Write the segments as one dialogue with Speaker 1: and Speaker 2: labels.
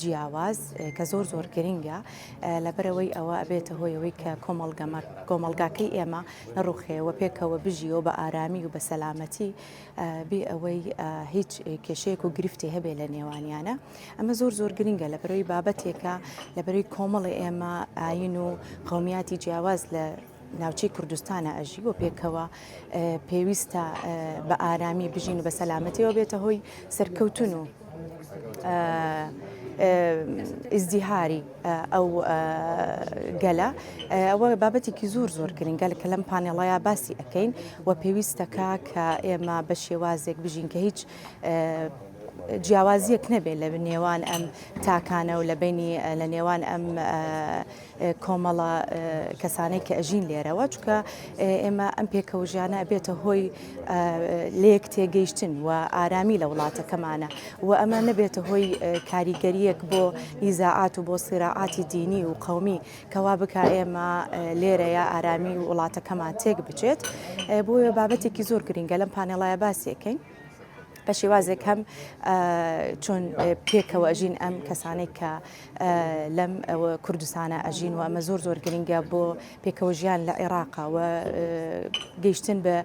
Speaker 1: جیاواز کە زۆر زۆر گرینگە لەبەرەوەی ئەوە ئەبێتە هۆی ئەوەی کە کۆمەڵگەمە کۆمەلگاکەی ئێمە نەڕوخێ و پێکەوە بژیەوە بە ئارامی و بە سەلامەتی بێ ئەوەی هیچ کێشەیەک و گرفتی هەبێ لە نێوانیانە ئەمە زۆر زۆر گرینگە لە بەرەوەی بابەتێکە لە بەرەوەی کۆمەڵی ئێمە ئاین و قومیاتی جیاواز لە ناوچەی کوردستانە ئەژی بۆ پێکەوە پێویستە بە ئارامی بژین و بە سەلامەتیەوە بێتە هۆی سەرکەوتن و ئیزدیهاری ئەو گەلە ئەوە بابەتێکی زۆر زۆر گرنگە کە لەم پانێڵەیە باسی ئەەکەین و پێویستەکە کە ئێمە بە شێوازێک بژین کە هیچ جیاوازیەک نەبێت لە نێوان ئەم تاکانە و لە بینی لە نێوان ئەم کۆمەڵە کەسانەی کە ئەژین لێرەوە چکە ئێمە ئەم پێکەوژیانە بێتە هۆی لێک تێگەیشتن و ئارامی لە وڵاتەکەمانە و ئەمە نەبێتە هۆی کاریگەریەک بۆ ئیزاعات و بۆ سیراعاتی دینی و قومی کەوا بک ئێمە لێرەیە ئارامی وڵاتەکەمان تێک بچێت بۆیە بابەتێکی زۆر گرنگە لەم پانێڵایە باسیەکەین. بە شێوازێک هەم چۆن پێکەوە ئەژین ئەم کەسانێک کە لەم کوردستانە ئەژین و ئەمە زۆر زۆر گرنگە بۆ پێکەوە ژیان لە عێراقەوە گەیشتن بە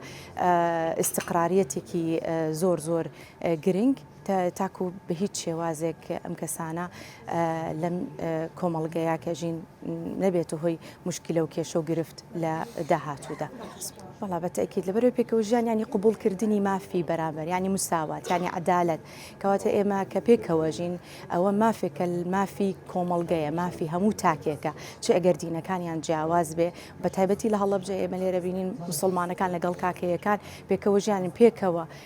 Speaker 1: ئیسقراریەتێکی زۆر زۆر گرنگ تاکو بە هیچ شێوازێک ئەم کەسانە لەم کۆمەڵگەیە کە ژین نەبێتە هۆی مشکلە و کێشە و گرفت لە داهاتوودا بەڵا بە تاکیت لەبەرەوە پێکەوە ژیانیانی قوبولکردنی مافی بەرامبەر ینی مساوات ینی عدالت کەواتە ئێمە کە پێکەوە ژین ئەوە مافێکە مافی کۆمەڵگەیە مافی هەموو تاکێکە چ ئەگەر دینەکانیان جیاواز بێ بە تایبەتی لە هەڵبجە ئێمە لێرە بینین مسلمانەکان لەگەڵ کاکەیەکان پێکەوە ژیانن پێکەوە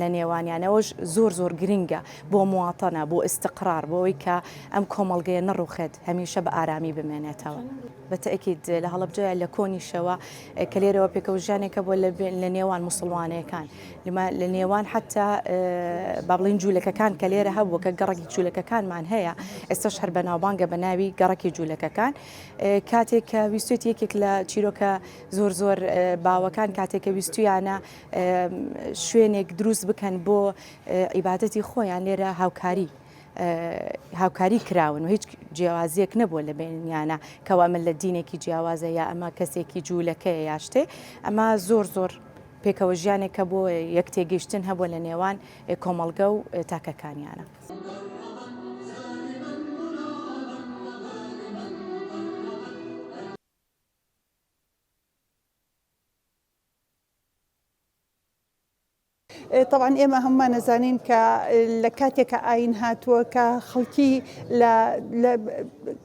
Speaker 1: لە نێوانیانەوەش زۆر زۆر گرنگە بۆ مواطنە، بۆ استقرار، بۆ ئەوەی کە ئەم کۆمەڵگەیە نەڕوخێت، هەمیشە بە ئارامی بمێنێتەوە. بە تەئکید لە هەڵەبجەیە لە کۆنیشەوە کە لێرەوە پێکەوژیانێک هەبووە لە نێوان موسڵمانەکان، لە نێوان حەتا با بڵێین جوولەکەکان کە لێرە هەبووە کە گەڕەکی جوولەکەکانمان هەیە، ئێستاش هەر بەناوبانگە بە ناوی گەڕەکی جوولەکەکان، کاتێک کە ویستێت یەکێک لە چیرۆکە زۆر زۆر باوەکان کاتێک کە ویستویانە، شوێنێک دروست بکەن بۆ عیباەتی خۆیان لێرە هاوکاری هاوکاری کراون و هیچ جیاوازیەک نەبووە لە بینیانە کەوا من لە دینێکی جیاوازە یا ئەمە کەسێکی جوولەکەی یاشتێ ئەمە زۆر زۆر پێکەوە ژیانێک کە بۆ یەک تێگەیشتن هەبووە لە نێوان کۆمەڵگە و تاکەکانیانە.
Speaker 2: تەبعەن ئێمە هەموومان ئەزانین کە لە کاتێکە ئاین هاتووە کە خەڵکی لە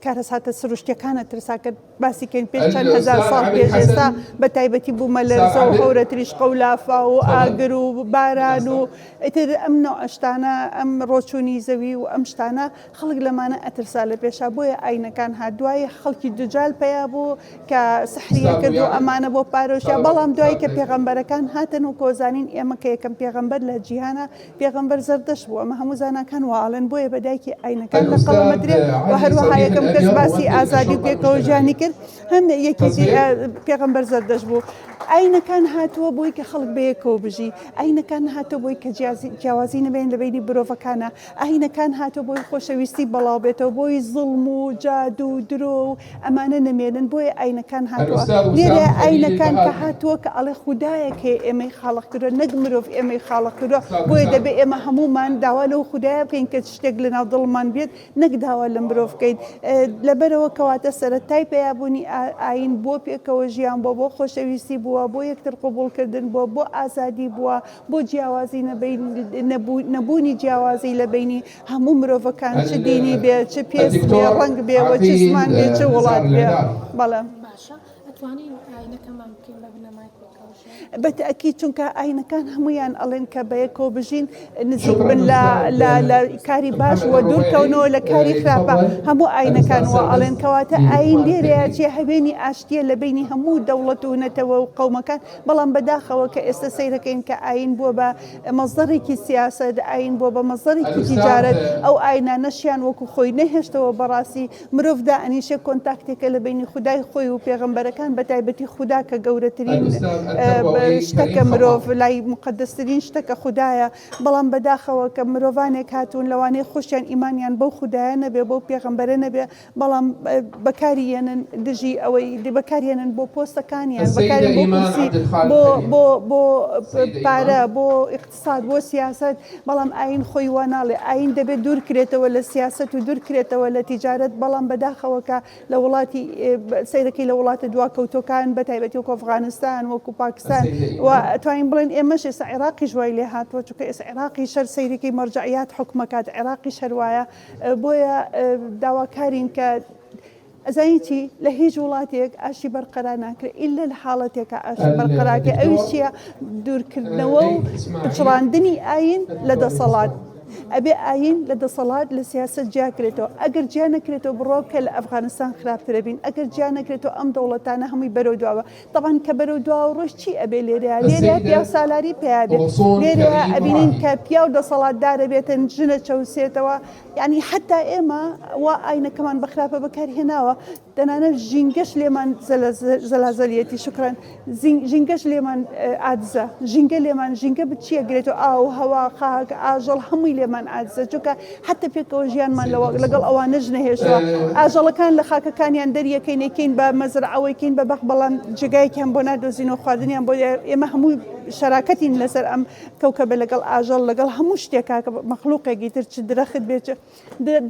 Speaker 2: کارەساتە سروشتەکانە ترساکە باسیکەین پێ چەند هزار ساڵ پێش ئێستا بە تایبەتی بوومە لە زە و هەورە تریش قەولافا و ئاگر و باران و ئیتر ئەم نەوعشتانە ئەم ڕۆچوونی زەوی و ئەم شتانە خەڵک لەمانە ئەترسا لەپێشا بۆیە ئاینەکان هات دوایی خەڵکی دجال پەیا بوو کە سحریە کردو ئەمانە بۆ پارۆشیا بەڵام دوایی کە پێغەمبەرەکان هاتن و کۆزانین ئێمە کە یەکەم پێغەمبەر لە جیهانە پێغەمبەر زەردەشت بوو ئەمە هەموو زاناکان وا ئەڵێن بۆیە بە دایکی ئاینەکان لە قەڵەم ئەدرێ و هەروەها یەکەم کەس باسی ئازادی و پێکەوە ژیانی کرد هەم یەکێتی پێغەمبەر زەردەشت بوو ئاینەکان هاتووە بۆی کە خەڵک بەیەکەوە بژی ئاینەکان هاتە بۆی کە جیازی جیاوازی نەبێن لە بینی برۆڤەکانە ئاینەکان هاتوە بۆی خۆشەویستی بەڵاو بێتەوە بۆی زوڵم و جادو و درۆ و ئەمانە نەمێنن بۆیە ئاینەکان هاتوە لێرە ئاینەکان کە هاتوە کە ئەڵێ خودایەک هەیە ئێمەی خاڵق کردوە نەک مرۆڤ ئێمەی خاڵق کردوە بۆیە دەبێ ئێمە هەمومان داوا لەو خودایە بکەین کە شتێک لەناو دڵمان بێت نەک داوا لە مرۆڤ بکەین لەبەرەوە کەواتە سەرەتای پەیابونی ئاین بۆ پێکەوە ژیان بۆ بۆ خۆشەویستی بوە بۆ یەکتر قوبوڵ کردن بۆ بۆ ئازادی بوە بۆ جیاوازی نەبوونی جیاوازی لە بینی هەموو مرۆڤەکان چ دینی بێ چ پێست بێ ڕەنگ بێ وە چ زمان بێ چ وڵات بێ بەڵێ بە تاکی چونکە ئاینەکان هەمویان ئەڵێن کە بە یەکۆ بژین نزیک بن لە کاری باش وە دوورکەونەوە لە کاری خراپە هەموو ئاینەکان وە ئەڵێن کەواتە ئاین لێرەیە چێ هەوێنی ئاشتیە لە بینی هەموو دەوڵەت و نەتەوە و قەومەکان بەڵام بە داخەوە کە ئێستە سەیرەکەین کە ئایین بووە بە مەزدەڕێکی سیاسەت، ئایین بووە بە مەزدەڕێکی تیجارەت، ئەو ئاینانەشیان وەکو خۆی نەهێشتەوە بەڕاستی مرۆڤ دائەنیشێ کۆنتاکتێکە لە بەینی خودای خۆی و پێغەمبەرەکان بە تایبەتی خودا کە گەورەترین شتەکە مرۆڤ لای موقەدەسترین شتەکە خودایە بەڵام بە داخەوە کە مرۆڤانێک هاتوون لەوانەیە خۆشیان ئیمانیان بەو خودایە نەبێ بەو پێغەمبەرە نەبێ بەڵام بەکاری یەنن دژی ئەوەی بەکاری یەنن بۆ پۆستەکانیان بەکاری بۆ کورسی بۆ بۆ بۆ پارە بۆ ئیقتساد بۆ سیاسەت بەڵام ئاین خۆی وا ناڵێ ئاین دەبێت دوور کرێتەوە لە سیاسەت و دوور کرێتەوە لە تیجارەت بەڵام بەداخەوە کە لە وڵاتی سەیرەکەی لە وڵاتە دوا کەوتۆکان بە تایبەتی وەکۆ ئەفغانستان وەکو پاکستان و توانین بڵێن ئێمەش ئێستا عێراقیش وای لێ هاتووە چونکە ئێستا عێراقی شەر سەیرەکەی مەرجەعیات حوکمەکات عێراقیش هەر وایە بۆیە داواکارین کە ئەزانی چی لە هیچ وڵاتێک ئاشی بەرقەرا ناکرێت ئللا لە حاڵەتێکە ئاشی بەرقەراکە ئەوی چییە دوورکردنەوە و چڕاندنی ئاین لە دەسەڵات. ئەبێ ئاین لە دەسەڵات لە سیاست جیاکرێتەوە ئەگەر جیا نەکرێتەوە بڕۆ کە لە ئەفغانستان خراپترە بین ئەگەر جیا نەکرێتەوە ئەم دەوڵەتانە هەمووی بەرەو دواوە تەبعەن کە بەرەو دواوە ڕۆیشت چی ئەبێ لێرەیا؟ لێرەیا پیاو سالاری پیا بێت، لێرەیا ئەبینین کە پیاو دەسەڵاتدار ئەبێتن ژن ئەچەوسێتەوە، یەعنی حەتا ئێمە وا ئاینەکەمان بە خراپە بەکار هێناوە، تەنانەت ژینگەش لێمان زەلازەلیەتی، شوکرەن، ژینگەش لێمان ئاجزە، ژینگە لێمان، ژینگە بچی ئەگرێتەوە، ئاو، هەوا، خاک، ئاژەڵ هەمووی لێمان ئاجزە، چونکە حەتە پێکەوە ژیانمان لەوە لەگەڵ ئەوانەش نەهێشتوە ئاژەڵەکان لە خاکەکانیان دەریەکەین یەکەین بە مەزرعەوەی کەین بە بەخ بەڵام جێگایەکیان بۆ نادۆزین و خواردنیان بۆ ئێمە هەموو شەراکەتین لەسەر ئەم کەوکە بە لەگەڵ ئاژەڵ لەگەڵ هەموو شتێکا کە مەخلوقێکی تر چ درەخت بێت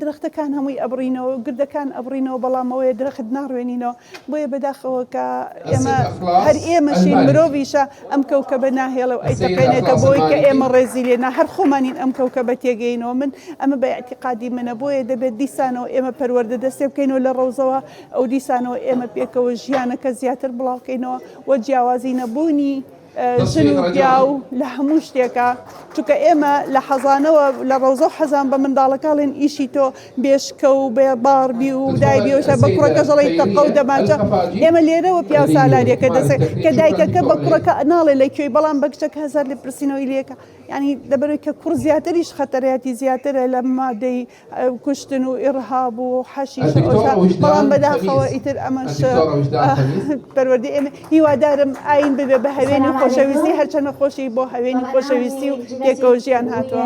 Speaker 2: درەختەکان هەمووی ئەبڕینەوە گردەکان ئەبڕینەوە بەڵامەوەی درەخت ناڕوێنینەوە بۆیە بەداخەوە کە ئێمە هەر ئێمەشین مرۆڤیشە ئەم کەوکەبە ناهێڵە و ئەیتەقێنێتە بۆی کە ئێمە ڕێزی لێنا هەر خۆمانین ئەم کەوکەبە تێگەینەوە من ئەمە بە ئەتیقادی منە بۆیە دەبێت دیسانەوە ئێمە پەروەردە دەستێ بکەینەوە لە ڕەوزەوە ئەو دیسانەوە ئێمە پێکەوە ژیانەکە زیاتر بڵاوکەینەوە و جیاوازی نەبوونی ژن و پیاو لە هەموو شتێکە چونکە ئێمە لە حەزانەوە لە ڕەوزە و حەزان بە منداڵەکەڵێن ئیشی تۆ بێشکە و بێ باڕبی و دای بیۆشە بە کوڕەکە ژەڵی تەقە و دەماچە ئێمە لێرەوە پیاو سالاریەکە دەسێت کە دایکەکە بە کوڕەکە ناڵێ لە کوێی بەڵام بە کچەکە هەزار لە پرسینەوەی لەکە ینی دەبەرێت کە کوڕ زیاتریش خەتەرەتی زیاترە لە مادەی کوشتن و ئیڕهاب و حەشیش بەڵام بەداخەوە ئیتر ئەمەش پەروەردی ئێمە هیوادارم ئاین ببێ بە هەوێنی خۆشەویستی هەرچەنە خۆشی بۆ هەوێنی خۆشەویستی و یەکەوژیان هاتووە.